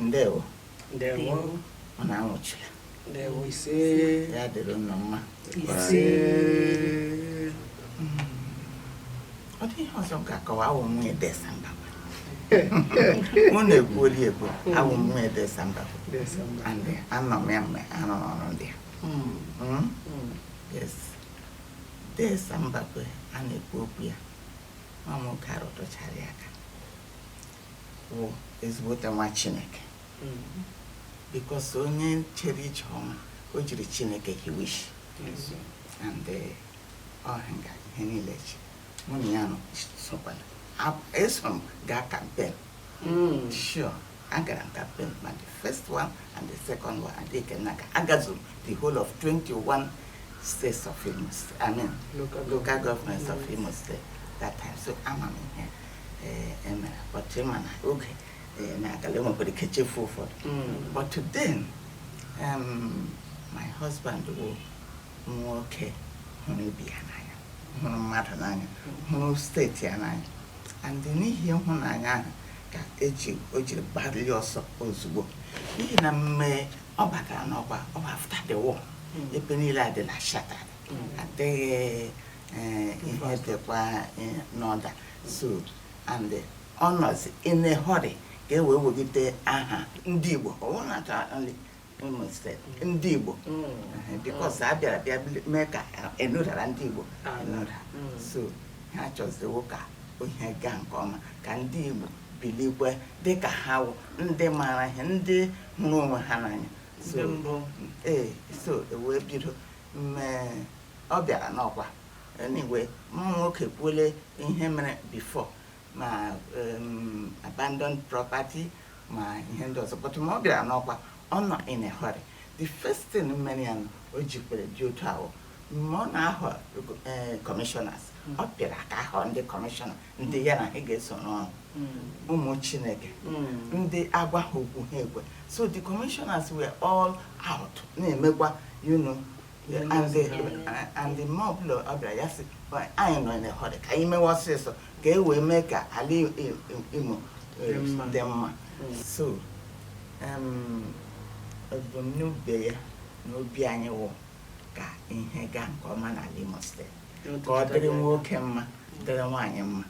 ndewo ndewo unu anwụchula ndewo ise ya dịrị unu mma ise ọ dị ihe ọzọ m ga-akọwa awụ m nwunye Dee Sam Mbakwe unu ekwuole ekwu awụ m nwunye Dee Sam Mbakwe Dee Sam Mba and anọ m ya mgbe a nọ n'ọrụ ndị a Mm, Mm? mm. yes Dee Sam Mbakwe a na-ekwu okwu ya nwa nwoke a rụtụchara ya aka wụ ezigbote nwa chineke because onye chere ije ọma o jiri chineke hiwe ishi and eh, ọha nga ihe niile chi mụ na ya nọ sokwala Ab- eso m gaa campaign Mm. Sure. Agara m campaign ma the first one and the second one and the Kenaka. Agazuru the whole of 21 states of Imo State. I mean, local, local governments yes. of Imo State that time. So ama m ihe mere but em, oge na-agala enwekwara ike chefu ụfọdụ mm. but then um, my husband bụ nwoke hụrụ ibe ya n'anya hụrụ mmadụ n'anya hụrụ steeti ya n'anya and n'ihi ịhụnanya ahụ ka e ji o jiri gbalịa ọsọ ozugbo n'ihi na mgbe ọ batara n'ọkwa ọ bụ after the war ebe niile adịla shattered adịghị eh, ihe dịkwa eh, n'order so and ọ nọzi in a hurry ka e wee wegide aha ndị Igbo ọ bụrụ na ka ndị Igbo because a bịara bịa mee ka e nudara ndị Igbo enuda so ha chọziwo ka ihe gaa nke ọma ka ndị Igbo bilikwe dịka ha wụ ndị maara ihe ndị hụrụ onwe ha n'anya ee so e wee bido mgbe ọ bịara n'ọkwa anyway nwoke ekwuole ihe mere before ma um, abandoned property ma ihe ndị ọzọ but mgbe ọ bịara n'ọkwa ọ nọ in a hurry the first thing mere ya na o ji kwere dị otu a wụ mgbe ọ na-ahọ eh, commissioners Mm. ọ pịara aka ahọ ndị commissioner ndị ya na ha ga-eso n'ọrụ ụmụ chineke ndị a gwa ha okwu ha ekwe so the commissioners were all out na-emekwa you know and mgbe ọbụla ọ bịara ya sị anyị nọ in a hurry ka anyị mewe ọsịịsọ ka e wee mee ka ala imo e, dị mma so ebumnobi ya na obi anyị wụ ka ihe gaa nke ọma n'ala imo steeti ka ọ dịrị nwoke mma dịrị nwaanyị mma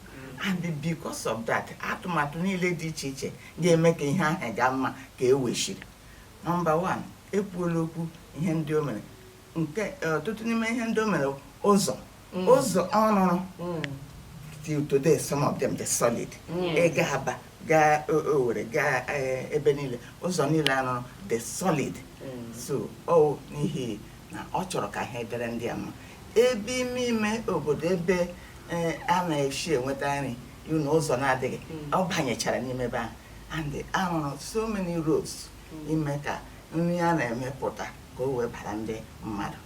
and because of that atụmatụ niile dị iche iche ga-eme ka ihe ahụ gaa mma ka e wechiri Number one, ekwuola okwu ihe ndị o mere nke e, ọtụtụ n'ime ihe ndị o mere ụzọ mm. ụzọ ọ rụrụ mm. till today some of them dị solid ị gaa mm. Aba gaa Owere gaa e, ebe niile ụzọ niile a rụrụ dị solid so ọ n'ihi na ọ chọrọ ka ihe dịrị ndị ya mma ebe ime ime obodo ebe e, a na-esi enweta nri na ụzọ na-adịghị ọ banyechara n'ime ebe ahụ and a rụrụ so many roads ime ka nri a na-emepụta ka o wee bara ndị mmadụ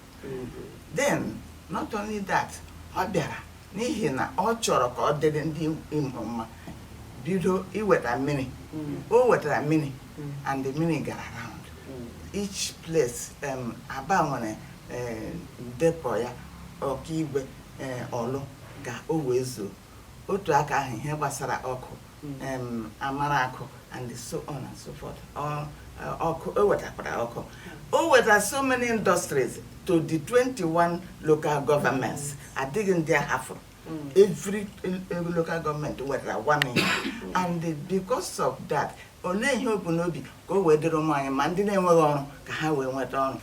then not only that ọ bịara n'ihi na ọ chọrọ ka ọ dịrị ndị Imo mma bido iweta mmiri o wetara mmiri and the mmiri gara round each place um, Aba nwere eh, depot ya Okigwe eh, Ọlụ ka o wee zuo otu aka ahụ ihe gbasara ọkụ Amaraku and so on and so forth ọkụ o wetakwara ọkụ o weta so many industries to the 21 local governments adịghị ndị a hafụrụ every local government nwetara one and because of that olee ihe o bu n'obi ka o wee dịrị ụmụ anyị mma ndị na-enweghị ọrụ ka ha wee nweta ọrụ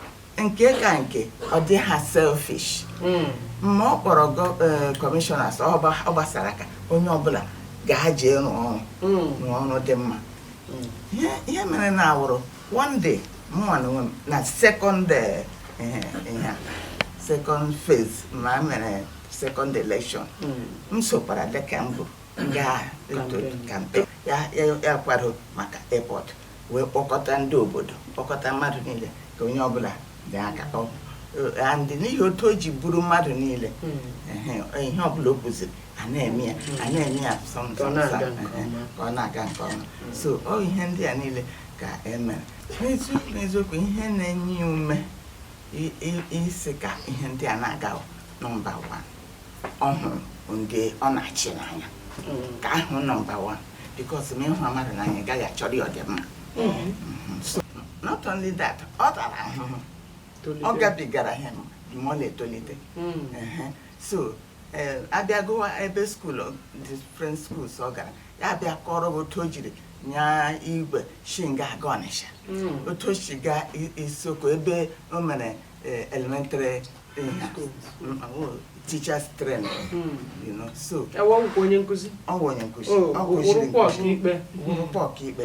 nke ka nke ọ dịha selfish hmm. ma ọ kpọrọ commissioners eh, ọ gbasara aka onye ọbụla gaa jee rụọ ọrụ hmm. rụọ ọrụ dị mma hmm. ihe mere na awụrụ one day mụnwa na onwe m na second eh, eh, second phase ma e mere second election m sokwara dịka mbụ gaa campaign ya kwado maka airport wee kpọkọta ndị obodo kpọkọta mmadụ niile ka onye ọbụla tii aka and n'ihi otu o ji buru mmadụ niile hmm. ihe ọbụla o kwuziri a na-eme ya a hmm. na-eme ya ka ọ na-aga nke ọma hmm. so ọ ihe ndị a niile ka e mere n'eziokwu n'eziokwu ihe na-enye ya ume ịsị ka ihe ndị a na-aga number 1 ọ hụrụ ndị ọ na-achị n'anya nke ahụ number one because ma ị hụ mmadụ n'anya ị ga-achọrọ ya ọdịmma not only that ọ tara ahụhụ ọ gabigara ihe mgbe ọ na-etolite Ehe. so eh, a bịa gụwa ebe school different schools ọ gara ya a bịa kọrọ gị otu o jiri nya igwe shi nga a gaa Ọnịsha otu o si gaa I- Isoko ebe o mere eh, elementary teachers train hmm. you know so ọ wụkwa onye nkụzi ọ wụ onye nkụzi ọ wụrụkwa ọkaikpe wụrụkwa ọkaikpe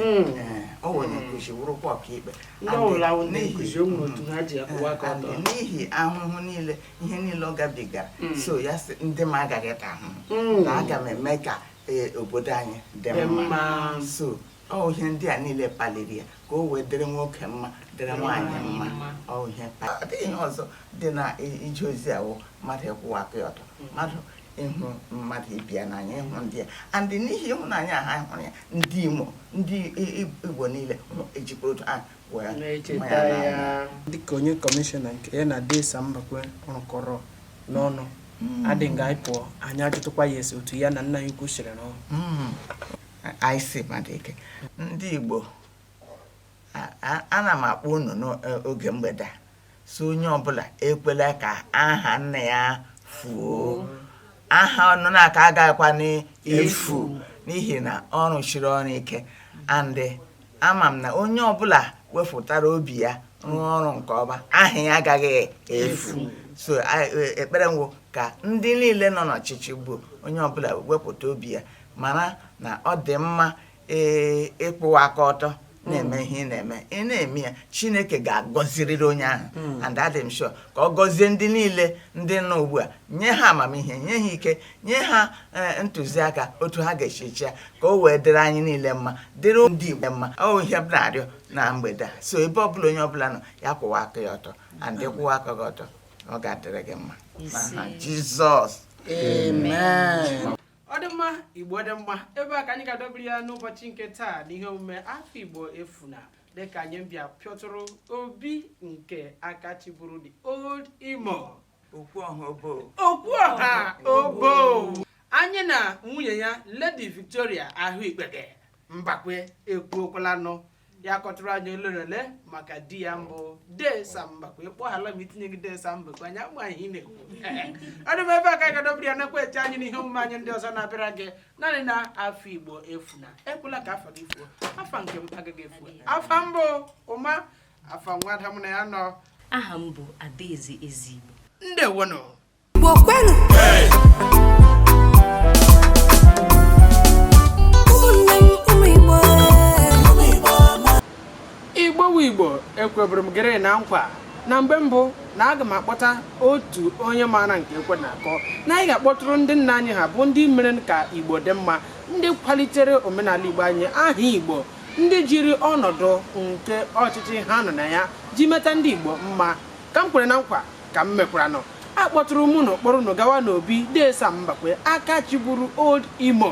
ọ wụ onye nkụzi wụrụkwa ọkaikpe n'ihi ahụhụ niile ihe niile ọ gabigara hmm. so ya sị ndị m agaghị ata ahụhụ hmm. na aga m eme ka eh, obodo anyị dị mma so ọ ihe ndị a niile kpaliri ya ka o wee dịrị nwoke mma dịrị nwaanyị mma ọ ihe kpaliri ihe ọzọ dị na ije ozi a wụ mmadụ ịkwụwa aka ya ọtọ mmadụ ịhụ mmadụ ibe ya n'anya ịhụ ndị ya and n'ihi ịhụnanya ha hụrụ ya ndị imo ndị igbo niile ejikwa otu ha dịka onye kọmishọna nke ya na dee sam mbakwe rụkọrọ n'ọnụ hmm. adị nga anyị pụọ anyị ajụtụkwa ya esi otu ya na nna ya ukwu siri rụọ hmm. IC Madike ndị Igbo ana m akpọ unu n'oge mgbede sị onye ọbụla ekwela ka aha nna ya fuo aha Ọnụnaka agaghịkwanụ efu n'ihi na ọ rụsiri ọrụ ike and ama m na onye ọbụla wefụtara obi ya rụọ ọrụ nke ọma aha ya agaghị efu so a- e- ekpere m wụ ka ndị niile nọ n'ọchịchị ugbu a onye ọbụla wepụta obi ya mara na ọ dị mma ee, ịkwụwa aka ọtọ na-eme ihe ị na-eme ị na-eme ya chineke ga-agọzirịrị onye ahụ and adị m sure ka ọ gọzie ndị niile ndị nọ ugbu a nye ha amamihe nye ha ike nye ha eh, ntụziaka otu ha ga-esi chịa ka o wee dịrị anyị niile mma dịrị ndị Igbo mma ọ ihe m na-arịọ na mgbede a so ebe ọ bụla onye ọbụla nọ ya kwụwa aka ya ọtọ and ị kwụwa aka gị ọtọ ọ ga-adịrị gị mma n'aha Jizọs amen ọ dị mma igbo dị mma ebe a ka anyị ga-adọbiri ya n'ụbọchị nke taa n'ihe omume afa igbo efuna dịka anyị bịa pịọtụrụ obi nke aka chịburu the old imo okwu ọha obowo okwu ọha obowo anyị na nwunye ya ledi victoria ahụikpeghe mbakwe ekwukọọlanụ ya kọtụrụ anyị ole na ole maka di ya bụ dee sam mbakwe kpọghala m itinyeghị dee sam mbakwe anyị ama ihe ị na-ekwu ọ dị mma ebe a ka anyị ga-adọbiri ya nakwa eche anyị n'ihe omume anyị ndị ọzọ na-abịara gị naanị na afa igbo efuna ekwela ka afa gị fuo afa nke m agaghị efu afa m bụ ụma afa nwada m na ya nọ aha m bụ adaeze ezigbo ndewonụ igbo kwenu ụmụnne m ụmụ igbo igbo wụ igbo ekweburu m gị rị na nkwa na mgbe mbụ na aga m akpọta otu onye maara nke ekwe na-akụ na anyị ga-akpọtụrụ ndị nna anyị ha bụ ndị mere ka igbo dị mma ndị kwalitere omenala igbo anyị aha igbo ndị jiri ọnọdụ nke ọchịchị ha nọ na ya ji meta ndị Igbo mma ka m kwere na nkwa ka m mekwaranụ akpọtụrụ m unu kpọrọ unu gawa n'obi Dee Sam Mbakwe aka chịburu Old Imo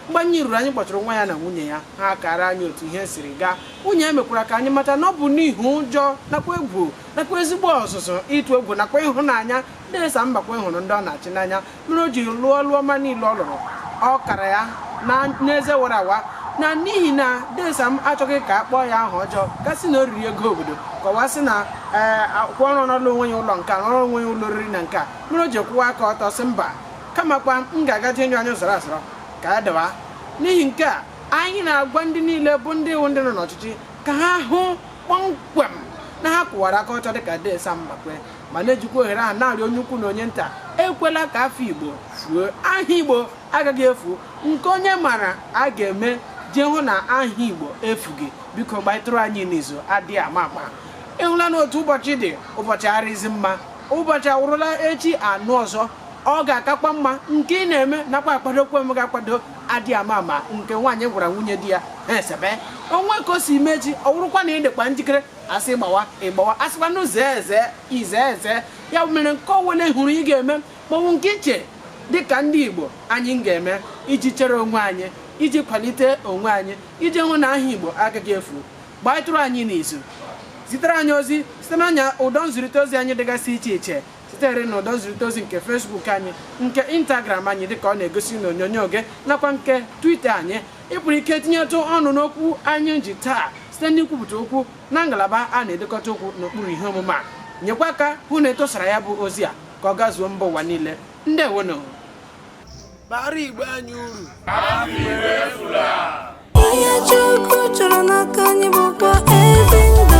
mgbe anyị ruru anyị kpọtụrụ nwa ya na nwunye ya ha kara anyị otu ihe siri gaa nwunye ya mekwara ka anyị mata na ọ bụ n'ihi ụjọ nakwa egwu nakwa ezigbo ọzụzụ ịtụ egwu nakwa ịhụnanya Dee Sam Mbakwe hụrụ ndị ọ na-achị n'anya mere o ji lụọ ọlụ ọma niile ọ lụrụ ọ kara ya na n'eze wara awa na n'ihi na dee sam achọghị ka a kpọọ ya aha ọjọọ gasị na o riri ego obodo kọwa sị na ee akwụkwọ ọ rụọrọ onwe ya ụlọ nke a rụrụ onwe ya ụlọ oriri na nke a mere o ji kwụwa aka ọtọ sị mba kamakwa m ga-aga jee anya zọrọ azọrọ ka ya dawa n'ihi nke a anyị na-agwa ndị niile bụ ndị iwu ndị nọ n'ọchịchị ka ha hụ kpọmkwem na ha kwụwara aka ọtọ dịka dee sam mbakwe ma na-ejikwa ohere ahụ na-arịọ onye ukwu na onye nta ekwela ka afọ igbo fuo aha igbo agaghị efu nke onye mara a ga-eme iji hụ na aha igbo efughị biko gbaịtụrụ anyị n'izu adịghị ama ama ịhụla na otu ụbọchị dị ụbọchị arịzi mma ụbọchị awụrụla echi a nụ ọzọ ọ ga-akakwa mma nke ị na-eme nakwa akwadokwa m ga-akwado adị ama ama nke nwaanyị gwara nwunye di ya ha esebe onwe ka o si mee echi ọ wụrụkwa na ị dịkwa njikere a sị gbawa ị gbawa a sịkwanụ zee eze ị zee eze ya mere nke ọwụla ị hụrụ ị ga-eme maọbụ nke i che dịka ndị Igbo anyị ga-eme iji chere onwe anyị iji kwalite onwe anyị iji hụ na aha Igbo agaghị efu gbaịtụrụ anyị n'izu zitere anyị ozi site n'anya ụdọ nzirịta ozi anyị dịgasị iche iche sitere na ụdọ nzirịta ozi nke Facebook anyị nke Instagram anyị dịka ọ na-egosi n'onyonyo gị nakwa nke Twitter anyị ị pụrụ ike tinyetụ ọnụ n'okwu anyị ji taa site n'ikwupụta okwu na ngalaba a na-edekọta okwu n'okpuru ihe omume a nyekwa aka hụ na e tosara ya bụ ozi a ka ọ gazuo mba ụwa niile ndewonụ bara Igbo anyị uru Ihe Chukwu chọrọ n'aka anyị bụkwa ezi ndụ